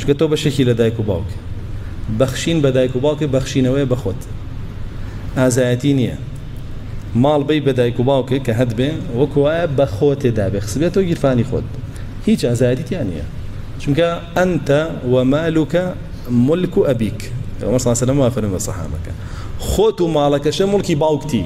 چونکە تۆ بەشێکی لە دایک و باوک بەخشین بە دایک و باوکێ بەخشینەوەی بەخۆت ئازایەتی نییە ماڵ بی بە دایک و باوکێک کە هەت بێ وەکوایە بە خۆتێ دابێ خسبێت تۆ گیرفانی خۆت هیچ ئازایەتی تیا نییە چونکە ئەنتە وەمالوکە ملک و ئەبیک پێغەمبەر صلی الله علیه و سلم وافەرمووە سەحابەکە خۆت و ماڵەکەشە ملکی باوکتی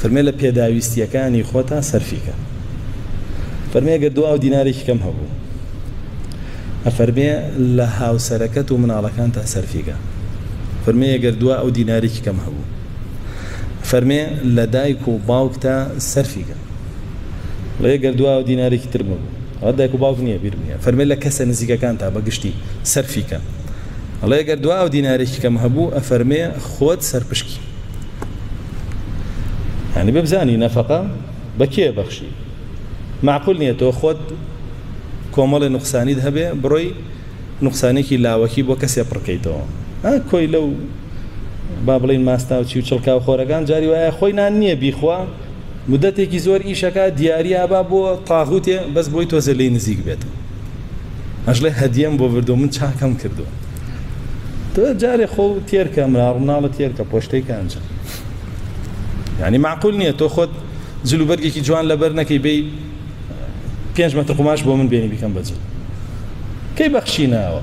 فەرمێ لە پێداویستییەکانی خۆتا سەرفی کە فەرمێ گەر دو ئاو دینارێکی کەم هەبوو ئەفەرمێ لە هاوسەرەکەت و مناڵەکان تا سەرفیگە فەرمێ گەر دو ئەو دینارێکی کەم هەبوو فەرمێ لە دایک و باوک تا سەرفیگە ڵێ گەر دو ئەو دینارێکی تر بوو ئەوە دایک و باوک نییە بیر نیە فەرمێ لە کەسە نزیکەکان تا بەگشتی سەرفیکە ڵێ گەر دو ئەو دینارێکی کەم هەبوو ئەفەرمێ خۆت سەرپشکی یعنی ببزانی نەفەقە بە کێ بەخشی معقول نییە تۆ خۆت کۆمەڵی نقصانیت هەبێ بڕۆی نقصانێکی لاوەکی بۆ کەسێ پڕکەیتەوە کۆی لەو با بڵین ماستاوچی و چڵکاو خۆرەکان جاری وایە خۆی نان نییە بیخوا مدەتێکی زۆر ئیشەکە دیاریە با بۆ تاغوتێ بەس بۆی تۆزێ لی نزیک بێت ئەژڵێ هەدیەم بۆ بردو من چاکەم کردو تۆ جارێ خۆ تێرکە مناڵ مناڵە تێرکە پۆشتەی کانجە یعنی معقول نییە تۆ خۆت جلو بەرگێکی جوان لەبەر نەکەی بی پێنج مەتر قوماش بۆ من بێنی بیکەم بەجل کەی بەخشی ناوە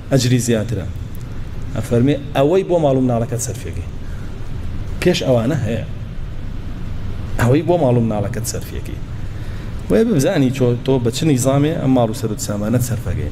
ئەجری زیاترە ئەفەرمێ ئەوەی بۆ ماڵو مناڵەکەت سەرفیەکەی پێش ئەوانە هەیە ئەوەی بۆ ماڵو مناڵەکەت سەرفیەکەی بۆیە ببزانی تۆ بە چ نیزامێ ئەم ماڵو سەرت سامانەت سەرفەکەی